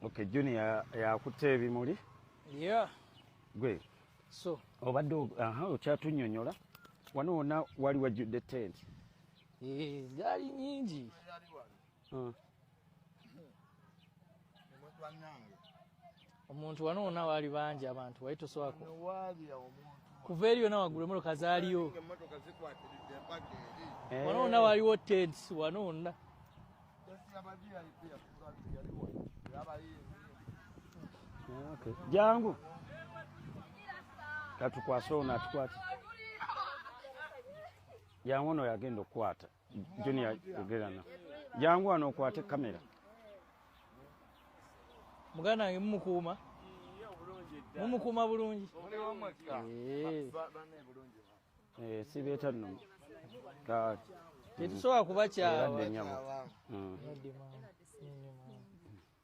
Okay, Junior yakutte ebimuli. Yeah. Gwe. So. Obadde aha okyatunyonyola. Wano wona wali wajjudde tent. Eh, zali nyingi. Hmm. omuntu wano wona waali bangi abantu wali toswako kuva eri yona wagulu emotoka zaaliyo eh. wano wona waliwo tents wano wonna jangu katukwase ono atukwate jangu ono yagenda okukwata Junior yogera na jangu wano okwate kamera muganda wange mumukuuma mumukuuma bulungi eh, sibeeta no tetusobola kuba kyawa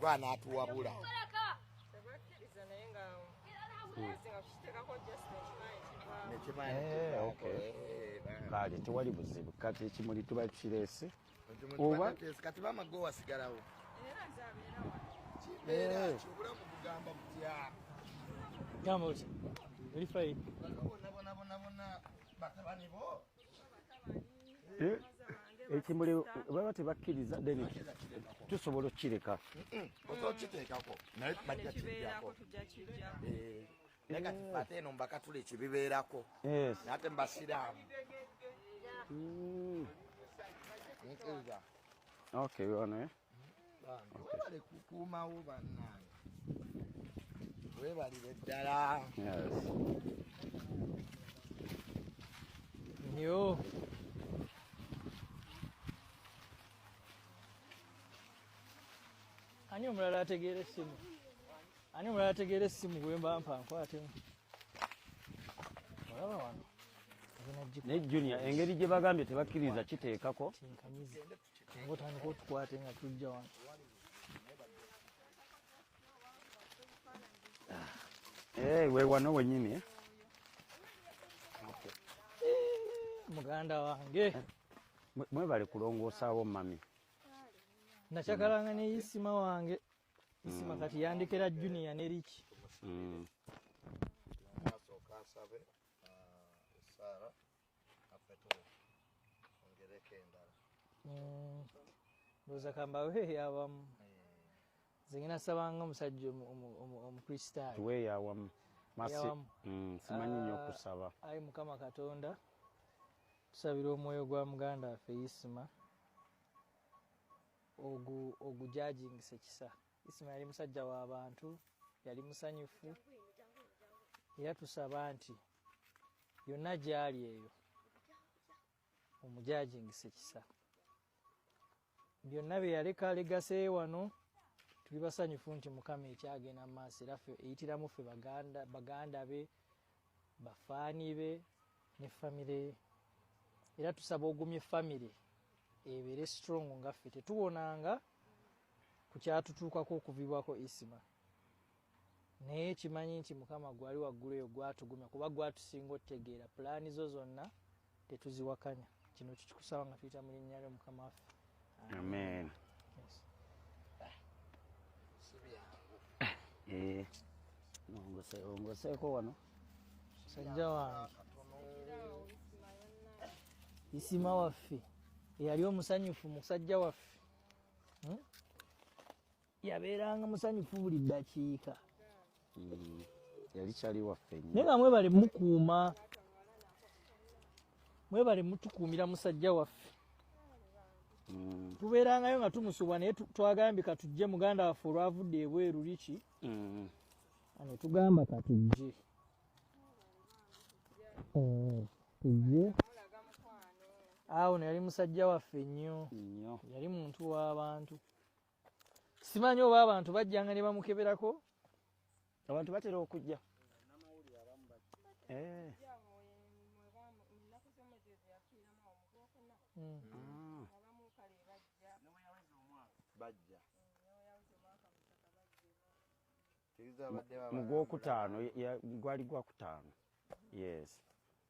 gwanatuwabula kale tewali buzibu kati ekimuli tuba tukireese oba kati bamago wasigalawo Eh? ekimuli baba tebakkiriza then tusobola okukireka okiteekako naye bajja kibeerako tujja kijjako eh. naye kati eh. ate eno mbakatula ekibibeerako ate mbasiraamu hmm. nkiriza okay you wanna, eh? webale kukuumawo bannange webalire ddala nyo ani omulala ategeera essimu ani omulala ategeera essimu gwemba mpa nkwatemu olaba wano naye junior engeri gye bagambye tebakkiriza kiteekako Naye otandika otukwate nga tujja wano. Eh, we wano wenyini eh. Muganda wange. Eh, mwebale kulongosaawo mami. Nachakalanga ne isima wange. Isima mm. kati yandikira junior ne Rich. Mm. Maso kasabe. Uh, Sarah. Mm. ndowooza kambawe eyawamu nze ngena sabanga omusajja omukristaayo tuwe eyawamu mm, simanyi nyo ah, okusaba ayi mukama katonda tusabira omwoyo gwa muganda waffe isima ogujajingisa ekisa isima yali musajja w'abantu yali musanyufu era tusaba nti yonna gyali eyo omujajingisa ekisa byonna byeyaleka legaseyo wano tuli basanyufu nti mukama ekyagenda mu maaso era ffe eyitiramu ffe baganda be bafaani be ne famire ye era tusaba ogumye famire ebeere strong nga ffe tetuwonanga ku kyatutuukako okuvibwako isima naye kimanyi nti mukama gwali waggulu eyo gwatugumya kuba gwatusinga otegeera pulaani zo zonna tetuziwakanya kino tukikusaba nga tuyita mu linnya lyo mukama waffe amen eh, ongoseeko wano sajja wange isima waffe eyali omusanyufu musajja waffe hmm? yabeeranga musanyufu buli ddakiika hmm. yali kyali waffe naye nga mwebale mukuuma mwebale mutukuumira musajja waffe hmm. tubeerangayo nga tumusubwa naye twagambye katujje muganda waffe olwavudde ebweru liki hmm. anetugamba katujje eh, tujje awo neyali musajja waffe nnyo yali muntu w'abantu simanyi oba abantu bajjanga ne bamukeberako abantu batera okujja eh. hmm. ah. mugwokutaano gwali gwakutaano yes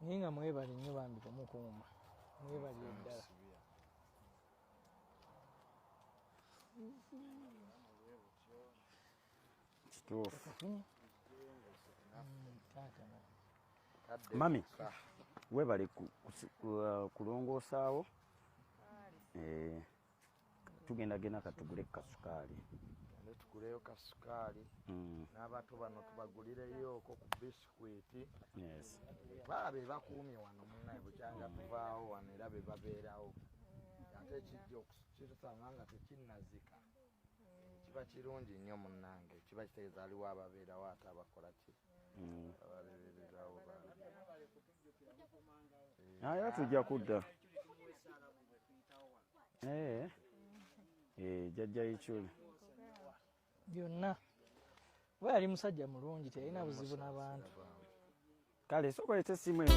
naye nga mwebale nnyo bambi kumukuuma mwebali eddala kituufu mami webale uh, kulongoosaawo eh. tugenda genda katugule kasukaali ne tuguleyo kasukaali mm. n'abato bano tubagulireyooko ku bisikwiti baa be bakuumye wano munaye bukyanga mm. tuvaawo wano era be babeerawo ate kijja okukisanga nga tekinnazika kiba kirungi nnyo munnange kiba kitegeeza aliwo ababeerawo ate abakola ki mm. ababeererawo naye tujja kudda eh. Eh, jajja yikyuli byonna oba yali musajja mulungi teyalina buzibu n'abantu kale sokoleta esimu eyo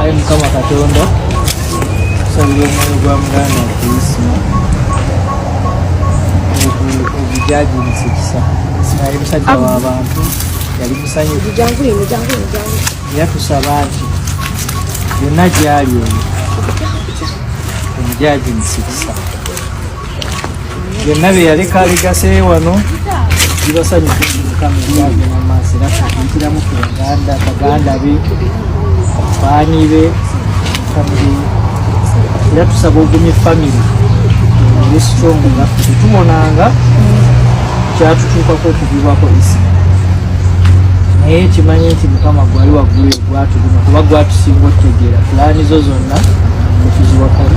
ayi mukama katonda tusabira omwoyo gwa muganda okuyisima ogujagimusa ekisa naye musajja wabantu yali musanyufu era tusaba nti yonna gyali oyo omujaji musikisa byonna bye yaleka alegase wano bibasanyukamukamaaso era tukuntiramu ku baganda baganda be baani be era tusaba ogumye famire ne strong nga tetubonanga kyatutuukako okugibwako isi naye kimanye nti mukama gwali waggulu egwatuguma kuba gwatusinga otutegeera pulaani zo zonna etuziwakali